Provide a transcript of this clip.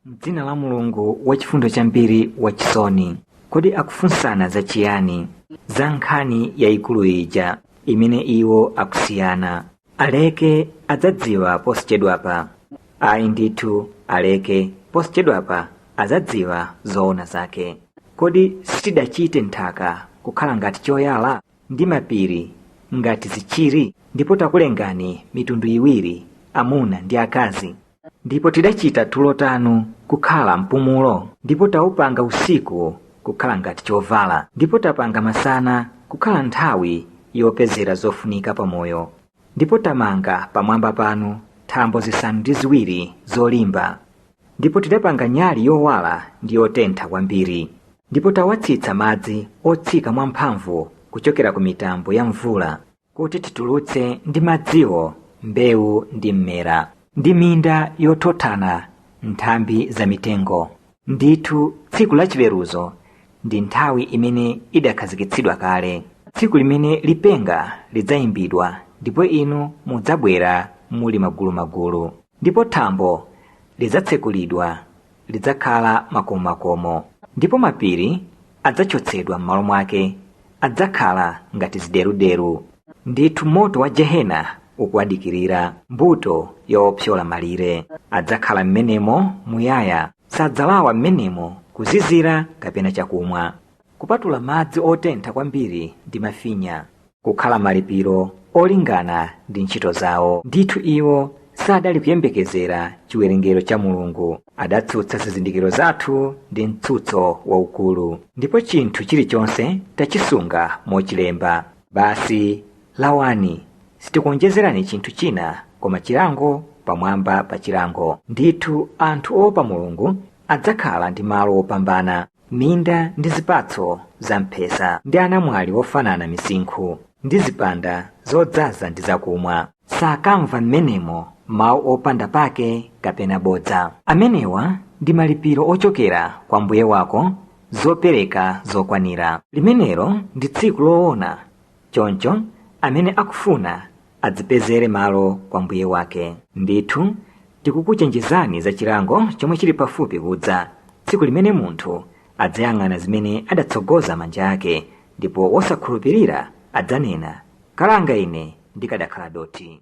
M'dzina la Mulungu wachifundo chambiri wachisoni. Kodi akufunsana za chiyani? Za nkhani yayikulu ija imene iwo akusiyana. Aleke adzadziwa posachedwapa. Ayi ndithu aleke posachedwapa adzadziwa zoona zake. Kodi sitidachite nthaka kukhala ngati choyala ndi mapiri ngati zichiri ndipo takulengani mitundu iwiri amuna ndi akazi ndipo tidachita tulo tanu kukhala mpumulo ndipo taupanga usiku kukhala ngati chovala ndipo tapanga masana kukhala nthawi yopezera zofunika pamoyo ndipo tamanga pamwamba panu thambo zisanu ndi ziwiri zolimba ndipo tidapanga nyali yowala ndi yotentha kwambiri ndipo tawatsitsa madzi otsika mwamphamvu kuchokera ku mitambo ya mvula kuti titulutse ndi madziwo mbewu ndi mmera ndi minda yothothana nthambi za mitengo ndithu tsiku la chiweruzo ndi nthawi imene idakhazikitsidwa kale tsiku limene lipenga lidzayimbidwa ndipo inu mudzabwera muli magulumagulu ndipo thambo lidzatsekulidwa lidzakhala makomomakomo ndipo mapiri adzachotsedwa m'malo mwake adzakhala ngati zideruderu ndithu moto wa jehena ukuwadikirira mbuto ya opyola malire adzakhala m'menemo muyaya sadzalawa m'menemo kuzizira kapena chakumwa Kupatula madzi otentha kwambiri ndi mafinya. kukhala malipiro olingana ndi ntchito zawo. Ndithu iwo sadali kuyembekezera chiwerengero cha Mulungu. Adatsutsa zizindikiro zathu ndi mtsutso waukulu. Ndipo chinthu chilichonse tachisunga mochilemba. Basi, lawani, sitikuonjezerani chinthu china koma chilango pamwamba pa chilango. Ndithu anthu oopa Mulungu adzakhala ndi malo wopambana. minda ndi zipatso za mphesa ndi anamwali ofanana misinkhu ndi zipanda zodzaza ndi zakumwa sakamva m'menemo mawu opanda pake kapena bodza amenewa ndi malipiro ochokera kwa mbuye wako zopereka zokwanira limenelo ndi tsiku loona choncho amene akufuna adzipezere malo kwa mbuye wake ndithu tikukuchenjezani za chilango chomwe chili pafupi kudza tsiku limene munthu adzayang'ana zimene adatsogoza manja ake ndipo wosakhulupirira adzanena kalanga ine ndikadakhala dothi